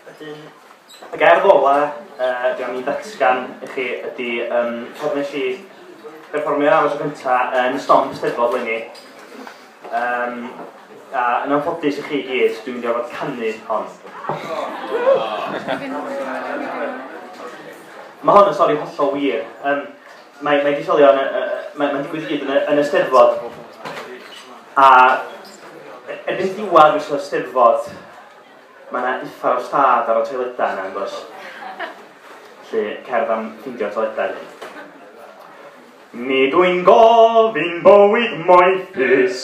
Wedyn, y gerdd ola uh, dwi am i ddatgan i chi ydy um, cofn nes i berfformio am y tro cyntaf yn y stomp steddfod lenni. Um, a yn anffodus i chi gyd, dwi'n mynd i orfod canu hon. Mae hon yn stori hollol wir. Um, Mae, mae disolion, mae'n mae digwydd gyd yn y, yn y steddfod. A erbyn diwedd mis o'r steddfod, mae yna uffar o stad ar y toiledau yna, yn does? Felly, cerdd am ffindio toiledau ni. Nid wy'n gofyn bywyd moethus,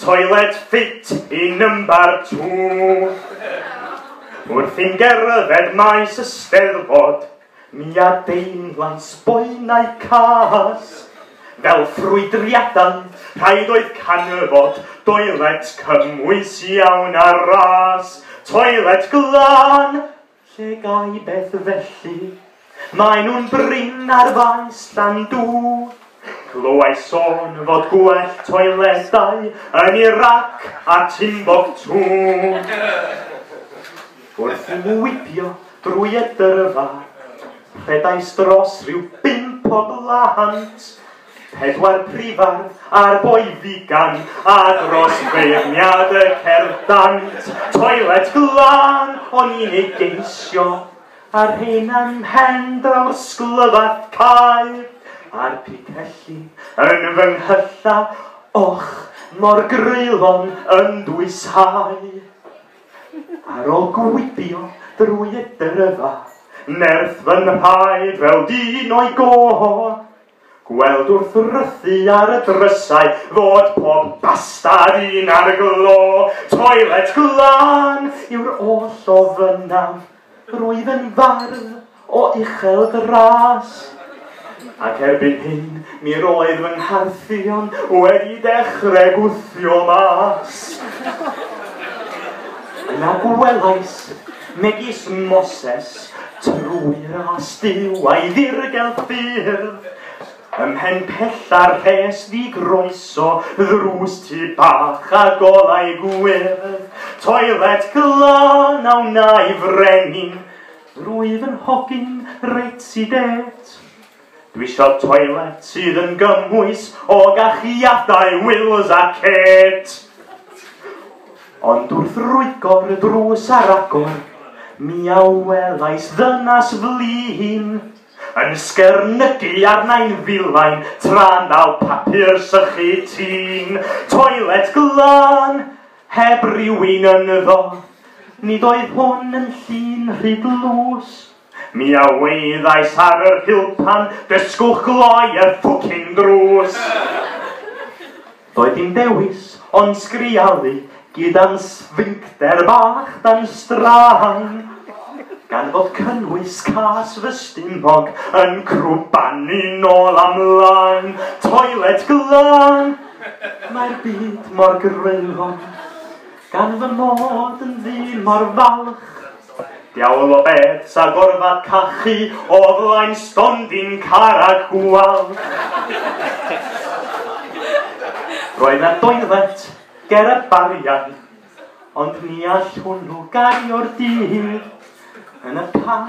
Toilet fit i number two. Wrth i'n gerdded maes y steddfod, mi a deimlan sboenau cas. Fel ffrwydriadau, rhaid oedd canfod doilet cymwys iawn a ras. Toilet glân! Lle gai beth felly? Mae nhw'n brin ar faes Llandw. Clywai sôn fod gwell toiledau yn Iraq a Timbuktu. Wrth i nhw wibio drwy y dyrfa, rhedais dros rhyw bump o blant pedwar prifardd a'r boi figan, a dros feirniad y cerdd dant, toilet glân o'n i'n ei geisio, a rhein am hen draw'r sglyfat cael, a'r picelli yn fy nghylla, och, mor greulon yn dwyshau. Ar ôl gwibio drwy y dyrfa, nerth fy nhraed fel dyn o'i gof, Gweld wrth wrthi ar y drysau fod pob bastad un ar glo, toilet glân yw'r oll o fynna, rwyf yn fardd o uchel dras. Ac erbyn hyn mi roedd fy ngharthion wedi dechrau gwthio mas. Yna gwelais megis Moses Trwy ras Duw a'i ddirgel ffyrdd, Ym mhen pella'r rhes fu groeso, Ddrws tu bach a golau gwyrdd, Toilet glân a wnai frenin, Rwyf yn hogyn reit i det. Dwi isio toilet sydd yn gymwys o gachiadau Wills a Kate. Ond wrth rwygo'r drws ar agor, mi a welais ddynas flin yn sgyrnygu arnau'n filain tra'n dal papur sychu tîn. Toilet glân, heb rywun ynddo, nid oedd hwn yn llun rhy dlws. Mi a wyddais ar yr hilpan, dysgwch gloi y ffwcin drws! Doedd dim dewis ond sgrialu gyda'n sfincter bach dan straen, gan fod cynnwys cas fy stumog yn crwbanu nôl a mlaen. Toilet glân! Mae'r byd mor greulon. Gan fy mod yn ddyn mor falch. Diawl o beth sa gorfod cachu o flaen stondin car a gwal. Roedd na doilet ger y bariau, ond ni all hwnnw gario'r dyn hyd yn y pan.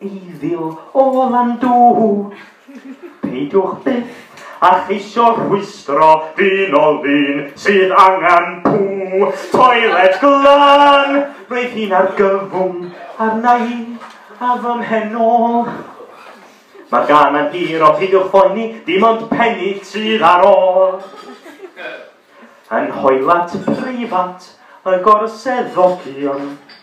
Evil o Landŵr. Peidiwch byth a cheisio rhwystro dyn o lun sydd angen pŵ toilet glan. Roedd hi'n argyfwng arna i a fy mhen ôl. Mae'r gan yn hir o peidiwch phoeni, dim ond penny sydd ar ôl. Yn hoelat preifat y gorseddogion.